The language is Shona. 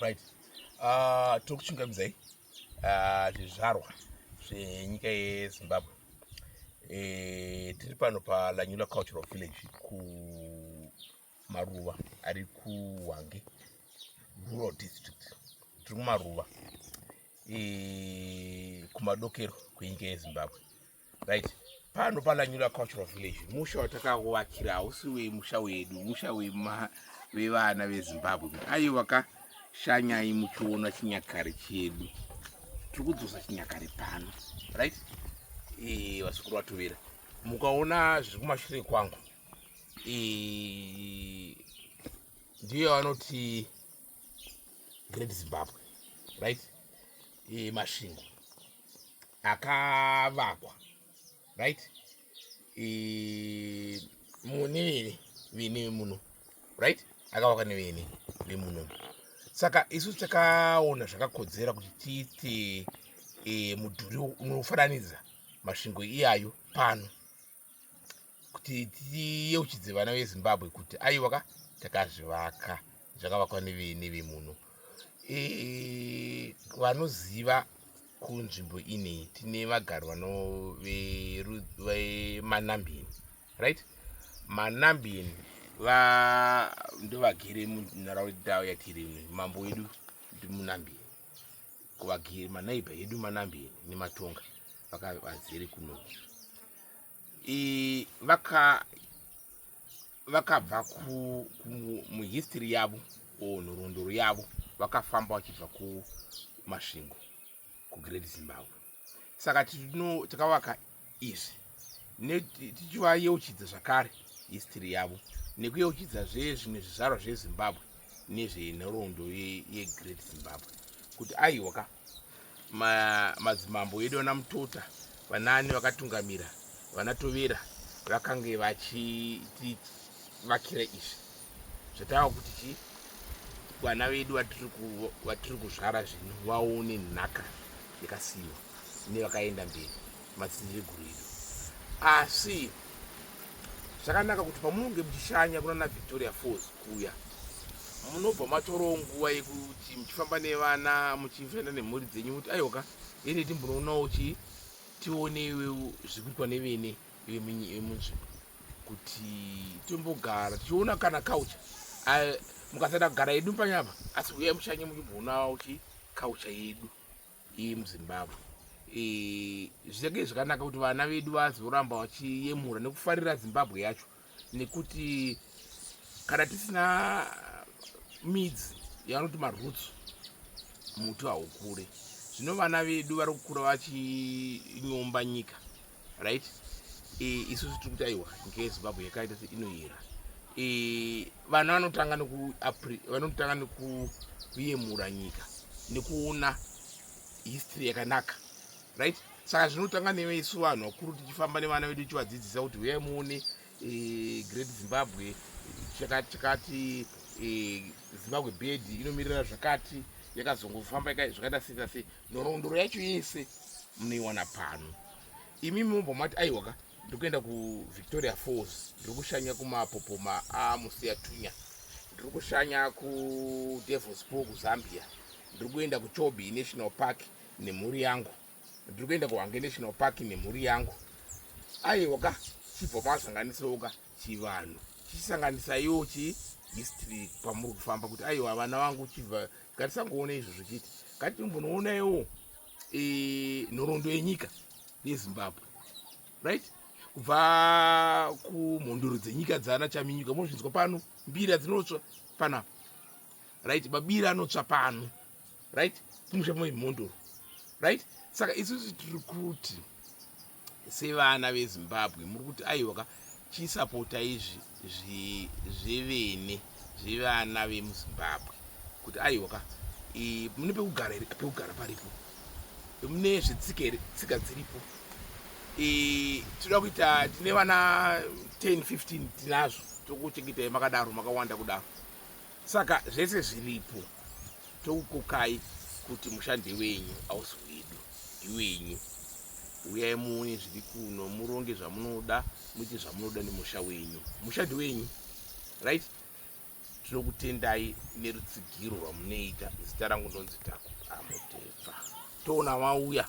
right uh, tiri kuchungamidzai uh, zvizvarwa zvenyika yezimbabwe e, tiri pano palanyula cultural village ku maruva ari kuhwange rural district tiri kumaruva e, kumadokero kwenyika yezimbabwe right pano palanyura cultural village musha watakakuvakira hausi wemusha wedu musha wevana vezimbabwe ayo vakashanyai muchiona chinyakare chedu tiri kudzosa chinyakare pano right e, vasikuru vatovera mukaona zviri kumashure kwangu ndiyo vanoti great zimbabwe right masvingo akavakwa right nevene vene muno right akavakwa nevene vemuno saka isu takaona zvakakodzera kuti tiite e, mudhuri unofananidza masvingo iyayo pano kuti tiyeuchidze vana vezimbabwe kuti aiwa ka takazvivaka zvakavakwa nevemuno e, vanoziva kunzvimbo inei tine vagari vano vemanambini right manambini ndovagere munharaunda yatiri mambo wedu ndimunambini kuvagiri manaiba edu manambi nematonga vakavazere kuno vaka vakabva muhistory yavo o nhorondoro yavo vakafamba vachibva kumasvingo kugreat zimbabwe saka tino takavaka izvi tichivayeuchidza zvakare history yavo nekuyeuchidza zve zvimwe zvizvarwa zvezimbabwe nezvenhoroondo yegreat zimbabwe kuti aiwa ka madzimambo edu vana mutota vanaani vakatungamira vana tovera vakange vachitivakira izvi zvatava kuti chii vana vedu vatiri kuzvara zvino vaone nhaka yakasiyiwa nevakaenda mberi madzidzi eguru edu asi zvakanaka kuti pamunenge muchishanya kunana victoria falls kuya munobva matorawo nguva yekuti muchifamba nevana muchifenda nemhuri dzenyu kuti aiwaka ende timbonoonawo chii tioneiwe zvikuitwa nevene yemunzvimbo kuti tombogara tichiona kana kaucha mukasada kugara yedu panyapa asi uye mushanye muchiboonawo chi kaucha yedu iyi muzimbabwe zvichake zvakanaka kuti vana vedu vazoramba vachiyemura nekufarira zimbabwe yacho nekuti kana tisina midzi yavanoti maroots muti haukure zvino vana vedu vari kukura vachinyomba nyika right e, isusu tiri kuti aiwa nyika yezimbabwe yakaita se inoyera e, vana vanotanga vanotanga nekuyemura nyika nekuona history yakanaka right saka zvinotanga newe isu vanhu vakuru tichifamba nevana vedu tichivadzidzisa kuti huyai muone eh, great zimbabwe chakati chakati eh, zimbabwe bed inomirira zvakati yakazongofamba zvakaita sei sei nhorondoro yacho yese munoiwana pano imi mumbo mati aiwa ka ndikuenda kuvictoria falls ndiri kushanya kumapopoma amusiya tunya ndiri kushanya kudevils pool kuzambia ndiri kuenda kuchobi national park nemhuri yangu ndiri kuenda kuhange national park nemhuri yangu aiwa ka chibva masanganisawo ka chivanhu chisanganisaiwo chi history pamuri kufamba kuti aiwa vana vangu chibva ngatisangoona izvo zvichiti ngatimbonoonawo e, nhoroondo yenyika yezimbabwe right kubva kumhondoro dzenyika dzaana chaminyuka mozvinzwa pano mbira dzinotsva panapa right mabira anotsva pano right kumusha mai mhondoro right saka isusu tiri kuti sevana vezimbabwe muri kuti aiwa ka chisapota izvi zvevene zvevana vemuzimbabwe kuti aiwa ka mune pekugara here pekugara paripo mune zvetsika here tsika dziripo tinoda kuita tine vana 10 15 tinazvo tokuchengetai makadaro makawanda kudaro Saka zvese zviripo tokukokai kuti mushande wenyu ausi wedu ndiwenyu uyai muone zviri kuno muronge zvamunoda muite zvamunoda nemusha wenyu mushandi wenyu right tinokutendai nerutsigiro rwamunoita zita rangu ndonzi takuamutepfa toona wauya